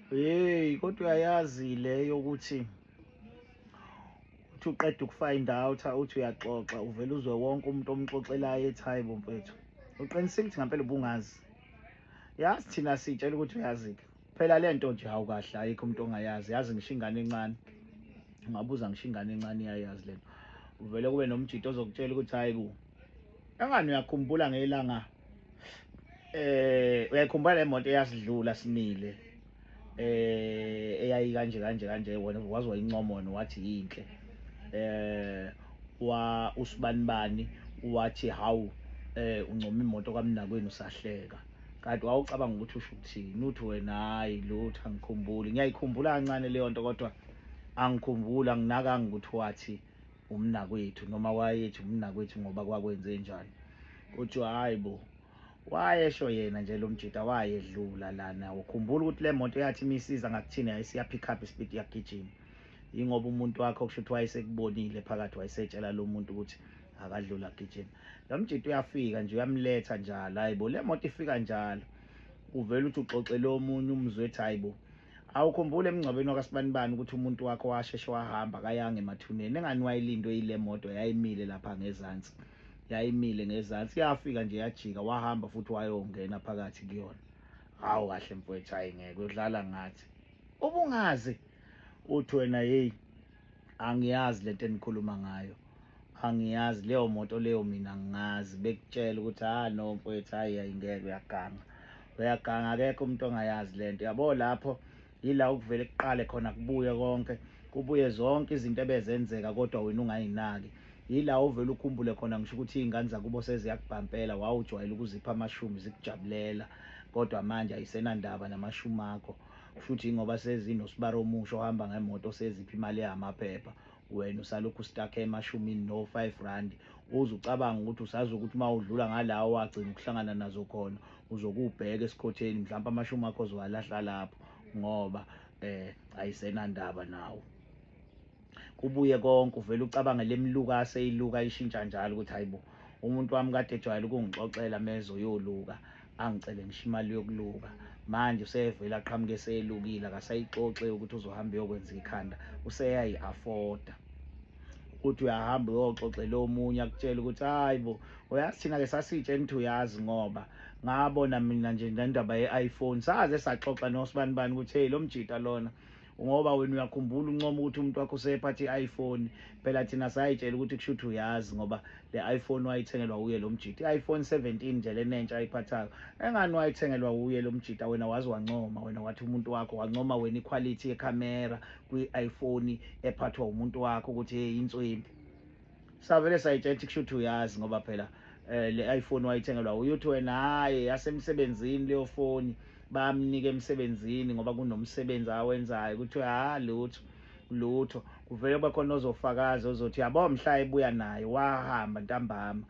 Hey kodwa uyayazi leyo ukuthi uthi uqeda ukufind out uthi uyaxoxa uvela uzwe wonke umuntu omxoxelayo ethi hayi bo mfethu uqinisile ukuthi ngempela ubungazi yazi thina sitshela ukuthi uyazi-ke phela le nto nje hawu kahle ayikho umuntu ongayazi yazi ngisho ingane encane ungabuza ngisho ingane encane iyayazi le nto uvele kube nomjito ozokutshela ukuthi hayi ku Engani uyakhumbula ngelanga eh uyayikhumbula le moto eyasidlula simile eh eyayi kanje kanje kanje wona wazi wayincomona wathi yinhle eh wa usibani bani wathi hawu eh uncoma imoto kamnakwenu usahleka kanti wawucabanga ukuthi usho ukuthini uthi wena hayi lutho angikhumbuli ngiyayikhumbula kancane leyo nto kodwa angikhumbuli anginakanga ukuthi wathi umnakwethu noma wayethi umnakwethu ngoba kwakwenze njani kuthiwa hayi bo wayesho yena nje lo mjita wayedlula lana ukhumbula ukuthi le moto yathi imisiza ngakuthini yayisiya pick up ispeed yagijima yingoba umuntu wakho kusho ukuthi wayesekubonile phakathi wayesetshela lo muntu ukuthi akadlula agijima lo mjita uyafika nje uyamletha njalo hayi bo le moto ifika njalo uvele uthi uxoxele omunye umzwe ethi hayi bo awukhumbule emngcwabeni wakasibanibani ukuthi umuntu wakho washeshe wahamba kayanga emathuneni engani wayilindwe yile moto yayimile lapha ngezansi yayimile ngezansi yafika nje yajika wahamba futhi wayongena phakathi kuyona hawu kahle mfowethu hayi ngeke udlala ngathi ubungazi uthi wena yeyi Angiyazi lento enikhuluma ngayo. Angiyazi leyo moto leyo mina ngingazi bekutshela ukuthi ha ah, no mfowethu hayi ayingeke uyaganga. Uyaganga akekho umuntu ongayazi lento. Yabo lapho yila ukuvele kuqale khona kubuye konke kubuye zonke izinto ebezenzeka kodwa wena ungayinaki yila ovele ukhumbule khona ngisho ukuthi iy'ngane zakubo seziyakubhampela wawujwayele ukuzipha amashumi zikujabulela kodwa manje ayisenandaba namashumi akho kushuthi ngoba sezinosibari omusha ohamba ngemoto seziphi imali yamaphepha wena usalokhu ustakhe emashumini no 5 rand uze ucabanga ukuthi usazi ukuthi uma udlula ngalawo wagcina ukuhlangana nazo khona uzokubheka esikhotheni mhlawumbe amashumi akho zowalahla lapho ngoba eh ayisenandaba nawo kubuye konke uvele ucabange lemluka aseyiluka ishintsha njalo ukuthi hayibo umuntu wami kade ejwayele ukungixoxela meze uyoluka angicele ngisho imali yokuluka manje usevele aqhamuke eseyelukile akasayixoxe ukuthi uzohamba uyokwenza ikhanda useyayi-afoda uthi uyahamba uyoxoxela omunye akutshela ukuthi hayi bo uyazi thina-ke sasitshe ngithi uyazi ngoba ngabona mina nje nendaba ye-iphone saze saxoxa nosibani bani ukuthi heyi lo mjita lona ngoba wena uyakhumbula uncoma ukuthi umuntu wakho usephatha i-iphone phela thina sayitshela ukuthi kusho ukuthi uyazi ngoba le iphone wayithengelwa wuye lo mjita i-iphone 17 nje lenentsha ayiphathayo engani wayithengelwa wuye lo mjita wena wazi wancoma wena wathi umuntu wakho wancoma wena ikhwalithi yekhamera kwi-iphone ephathwa umuntu wakho ukuthi hey inswembi savele sayitshela ukuthi kushuthi uyazi ngoba phela eh, le iPhone wayithengelwa uyuthi wena hayi yasemsebenzini leyo foni bamnike emsebenzini ngoba kunomsebenzi awenzayo kuthiwe ha ah, lutho lutho kuvele kube khona ozofakaza ozothi yabo mhla ebuya naye wahamba ntambama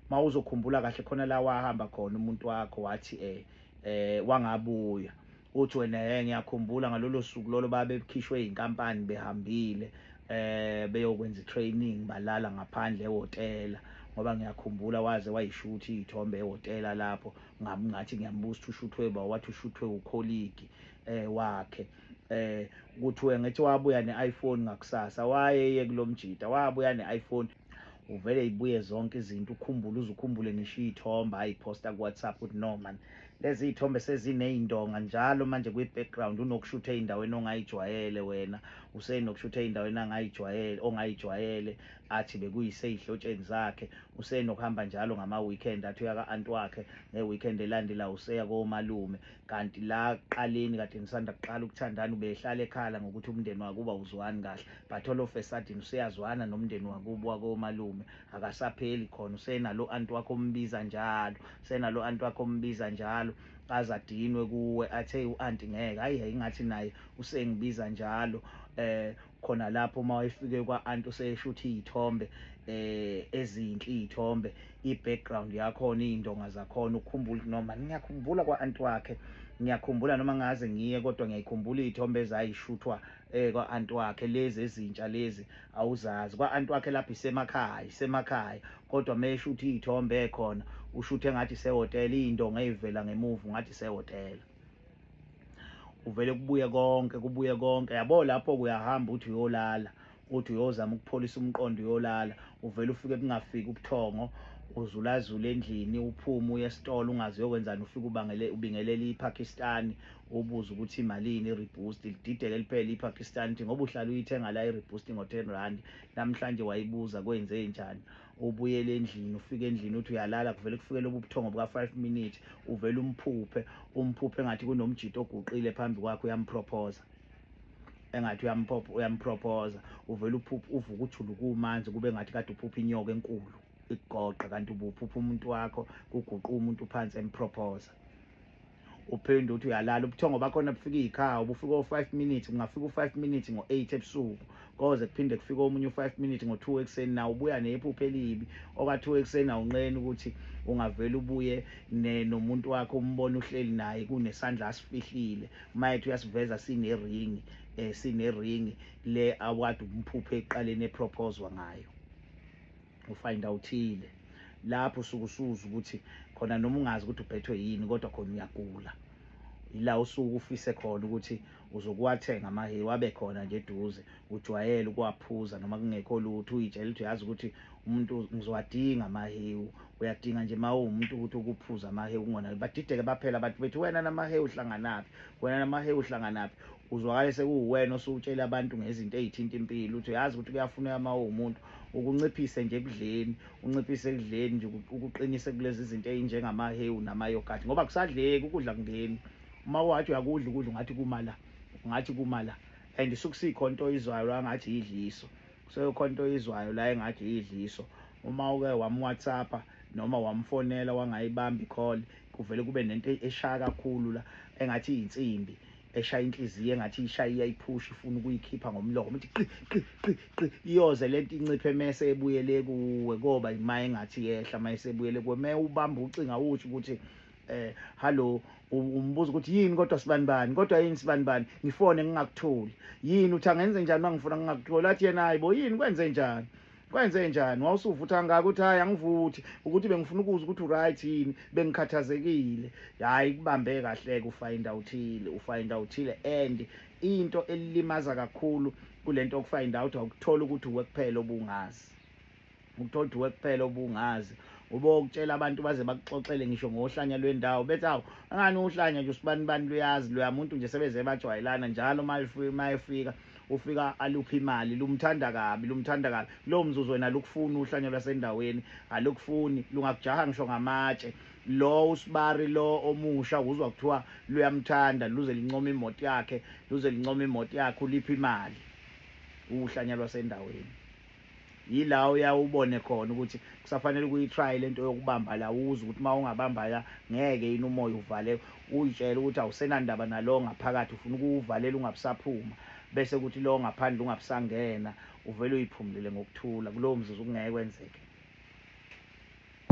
uma uzokhumbula kahle khona la wahamba khona umuntu wakho wathi eh eh wangabuya uthi wena he ngiyakhumbula ngalolo suku lolo babekhishwe inkampani behambile eh beyokwenza training balala ngaphandle ehotela ngoba ngiyakhumbula waze wayishuthi ithombe ehotela lapho ngathi ngiyambuza ukuthi ushuthwe ba wathi ushuthwe ukholigi eh wakhe eh kuthiwe ngithi wabuya ne-iPhone ngakusasa wayeye kulomjita wabuya ne-iPhone uvele ibuye zonke izinto ukhumbule uze ukhumbule ngisho iy'thombe ayiphosta ku-whatsapp ukuthi no man lezi iy'thombe seziney'ndonga njalo manje kwi-background unokushutha ey'ndaweni ongayijwayele wena usenokushutha ey'ndaweni angayijwayele ongayijwayele athi bekuyisey'hlotsheni zakhe usenokuhamba njalo ngama-weekend athi uyaka-anti wakhe nge-weekend elandela useya komalume kanti la kuqaleni kade nisanda kuqala ukuthandana ubehlala ekhala ngokuthi umndeni wakuba uzwani kahle but all of a sudden useyazwana nomndeni wakubo wakomalume akasapheli khona usenalo anti wakho ombiza njalo usenalo anti wakho ombiza njalo aze adinwe kuwe athe u-anti ngeke hayi yayingathi naye usengibiza njalo eh khona lapho uma wayefike kwa-anti useyeshutha iy'thombe eh ezinhle iy'thombe i-background yakhona iy'ndonga zakhona ukhumbula ukuthi noma ngiyakhumbula kwa-anti wakhe ngiyakhumbula noma ngaze ngiye kodwa ngiyayikhumbula iy'thombe ezayishuthwa eh kwa-anti wakhe lezi ezintsha lezi awuzazi kwa-anti wakhe lapho isemakhaya isemakhaya kodwa meshutha iy'thombe ekhona ushuthe ngathi sehhotela iy'ndonga ey'vela ngemuva ngathi sehhotela uvele kubuye konke kubuye konke yabo lapho kuyahamba uthi uyolala uthi uyozama ukupholisa umqondo uyolala uvele ufike kungafiki ubuthongo uzulazula endlini uphume uye esitolo ungazi yokwenzani ufike ubangele ubingelela iPakistan ubuza ukuthi imalini iReboost lidideke liphele iPakistan ukuthi ngoba uhlala uyithenga la iReboost ngo-10 rand namhlanje wayibuza kwenze njani ubuyele endlini ufike endlini uthi uyalala kuvele kufike lobu buthongo buka-five minute uvele umphuphe umphuphe engathi kunomjito oguqile phambi kwakhe uyamprophoza engathi uyamprophoza uvele uphuphe uvuka ujulu kumanzi kube ngathi kade uphuphe inyoka enkulu ikugoqa kanti ubuphupha umuntu wakho kuguquka umuntu phansi emprophoza uphinde uthi uyalala ubuthongo bakhona bufika iy'khawu ubufika o-five minutes kungafika u-five minutes ngo-eight ebusuku koze kuphinde kufike omunye u-five minutes ngo-two ekuseni nawo ubuya nephupho elibi oka-two ekuseni awunqeni ukuthi ungavele ubuye nomuntu wakho umbone uhleli naye kunesandla asifihlile uma ethi uyasiveza sineringi um eh, sineringi le awadi umphuphe ekuqaleni eprophozwa ngayo ufind outhile lapho usuke usuza ukuthi khona noma ungazi ukuthi uphethwe yini kodwa khona uyagula ila usuke ufise khona ukuthi uzokuwathenga amahewu abe khona nje eduze ujwayele ukuwaphuza noma kungekho lutho uyitshela ukuthi uyazi ukuthi umuntu ngizowadinga amahewu uyadinga nje mawu umuntu ukuthi ukuphuza amahewu kungona badideke baphela abantu bethi wena namahewu uhlanganaphi wena namahewu uhlanganaphi uzwakale sekuwuwena osuwutshela abantu ngezinto ezithinta impilo uthi uyazi ukuthi kuyafuneka mawu umuntu ukunciphise nje ekudleni unciphise ekudleni nje ukuqinise kulezi zinto ezinjengamahewu namayogathi ngoba kusadleki ukudla kungeni uma wathi uyakudla ukudla ungathi kumala ungathi kumala and sukusikho into oyizwayo la ngathi yidliso kusekho into oyizwayo la engathi yidliso uma uke wamwhatsappa noma wamfonela wangayibambi call kuvele kube nento eshaya kakhulu la engathi iyinsimbi eshaya inhliziyo engathi ishaya iyayiphusha ifuna ukuyikhipha ngomlomo ithi qi qi qi qi iyoze lento inciphe mese ebuyele kuwe koba imaye engathi yehla mayese ebuyele kuwe me ubamba ucinga uthi ukuthi eh hallo umbuza ukuthi yini kodwa sibani bani kodwa yini sibani bani ngifone ngingakutholi yini uthi angenze njani mangifuna ngingakutholi athi yena hayibo yini kwenze njani kwenze njani wawusuvutha kangaka ukuthi hhayi angivuthi ukuthi bengifuna ukuza ukuthi uright yini bengikhathazekile hhayi kubambe kahleke ufayinda uthile ufayinda uthile and into elilimaza kakhulu kule nto okufayinda out awukuthola ukuthi uwe kuphela obungazi ukuthola ukuthi uwe kuphela obungazi ube okutshela abantu baze bakuxoxele ngisho ngohlanya lwendawo bethi awu angani uhlanya nje usibani bani luyazi luyamuntu nje sebeze bajwayelana njalo uma efika ufika aluphi imali lumthanda kabi lumthanda kabi lo mzuzu wena lukufuna uhlanya lwasendaweni alukufuni lungakujaha ngisho ngamatshe lo usibari lo omusha uzwa kuthiwa luyamthanda luze lincoma imoto yakhe luze lincoma imoto yakhe uliphi imali uhlanya lwasendaweni Yila oya ubone khona ukuthi kusafanele ukuyitry lento yokubamba la uze ukuthi uma ungabamba la ngeke yini umoya uvale uyitshela ukuthi awusenandaba nalowo ngaphakathi ufuna ukuwuvalela ungabusaphuma bese kuthi lowo ngaphandle ungabusangena uvele uyiphumulele ngokuthula kulowo mzuzu kungeke kwenzeke